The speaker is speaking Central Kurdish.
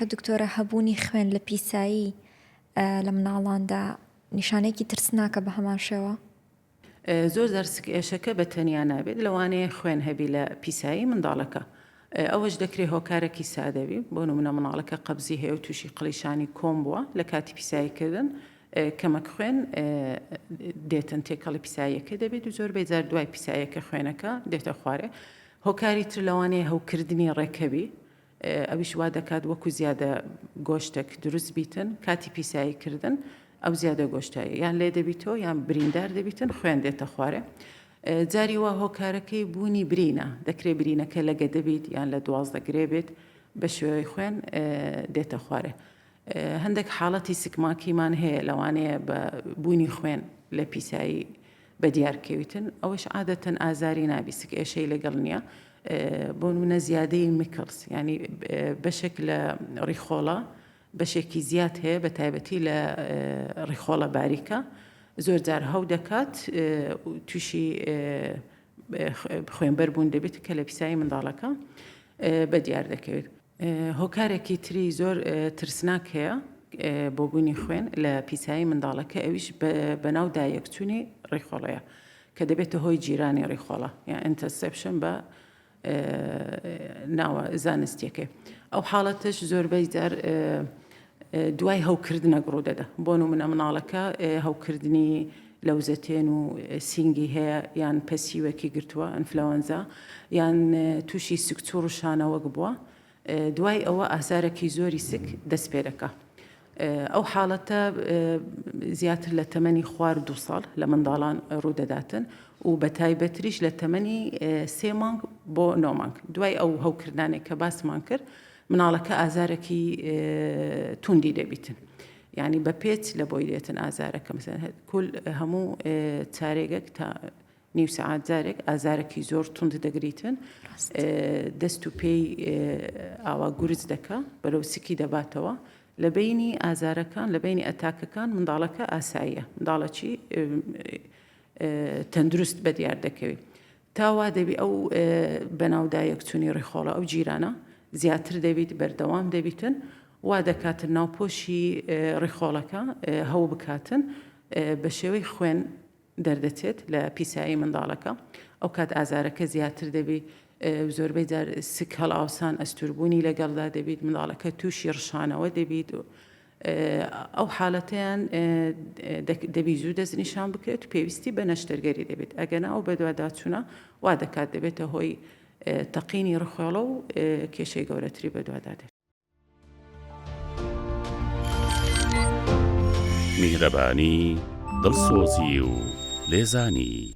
دکتۆرە هەبوونی خوێن لە پیسایی لە مناڵاندا نیشانەیەکی ترسناکە بە هەمان شێوە؟ زۆر جار سکئێشەکە بە تەنیا نابێت لەوانەیە خوێن هەبی لە پیسایی منداڵەکە ئەوەش دەکرێت هۆکارەکی سادەوی بۆ نمونە مناڵەکە قەبزی هەیە و تووشی قلیشانی کۆم بووە لە کاتی پیساییکردن کەمەک خوێن دێتن تێکەڵی پیساییەکە دەبێت و زۆر بێجار دوای پیسایەکە خوێنەکە دێتە خوارێ هۆکاری تر لەوانەیە هەوکردنی ڕێکەوی ئەویش وا دەکات وەکو زیادە گۆشتەک دروست بیتن کاتی پیسایی کردن ئەو زیادە گۆشتە یان لێ دەبیتەوە یان بریندار دەبیتن خوێن دێتە خوارێ جاری وا هۆکارەکەی بوونی برینە دەکرێت برینەکە لەگە دەبیت یان لە دوازدە گرێ بێت بە شێوەی خوێن دێتە خوارێ هەندێک حاڵەتی سکماکیمان هەیە لەوانەیە بە بوونی خوێن لە پیسایی بەدیار کەویتن ئەوەش عادەتەن ئازاری نابیسک ئێشەی لەگەڵ نییە بۆ منە زیادەی میکلس ینی بەشێک لە ڕیخۆڵە بەشێکی زیاد هەیە بە تایبەتی لە ڕیخۆڵە باریکە زۆر جار هەو دەکات تووشی خوێنبەر بوون دەبێت کە لە پیسایی منداڵەکە بە دیار دەکەوێت هۆکارێکی تری زۆر ترسناک هەیە بۆ بوونی خوێن لە پیسایی منداڵەکە ئەویش بەناو دایەکچوونی ڕیخۆڵەیە کە دەبێتە هۆی جیرانی ڕیخۆڵە یا ئەتەسپشن بە ناوە زانستیەکەی ئەو حاڵەتش زۆربەی جار دوای هەوکردنەک ڕوودەدە، بۆ نموونە مناڵەکە هەوکردنی لەوزەتێن و سینگی هەیە یان پەسیوەکی گرتووە، ئەنفلەوەنزا، یان تووشی سکچووڕ و شانەوەک بووە، دوای ئەوە ئازارەکی زۆری سک دەست پێ دەکا. ئەو حاڵەتە زیاتر لە تەمەنی خوار دوو ساڵ لە منداڵان ڕوودەداتن و بە تایبەتریش لە تەمەنی سێ مانگ بۆ نۆ مانگ دوای ئەو هەوکردنانێک کە باسمان کرد مناڵەکە ئازارەکی توندی دەبیتن یعنی بە پێچ لە بۆی دێتن ئازارەکە مثلەن کل هەموو چارێگەک تا نیو سعات جارێک ئازارەکی زۆر توند دەگریتن دەست و پێی ئاوا گورج دەکە بەرەو سکی دەباتەوە لە بینی ئازارەکان لە بینی ئەتاکەکان منداڵەکە ئاساییە منداڵەکی تەندروست بە دیار دەکەوێت تا وا دەبی ئەو بەناودایەکچونی ڕیخۆڵە ئەو جیرانە زیاتر دەبیت بەردەوام دەبیتن وا دەکاتن ناوپۆشی ڕیخۆڵەکە هەو بکاتن بە شێوەی خوێن دەردەچێت لە پیسایی منداڵەکە ئەو کات ئازارەکە زیاتر دەبی زۆربەی جار سک هەڵاوسان ئەستوربوونی لەگەڵدا دەبیت منداڵەکە تووشی ڕشانەوە دەبیت و ئەو حالەتەیان دەبی زوو دەستنیشان بکرێت و پێویستی بە نەشتەرگەری دەبێت، ئەگەنا ئەو بەدواداچوونە وا دەکات دەبێتە هۆی تەقینی ڕخێڵە و کێشەی گەورەتری بەدوادا دێت. میهرەبانی، دڵسۆزی و لێزانی.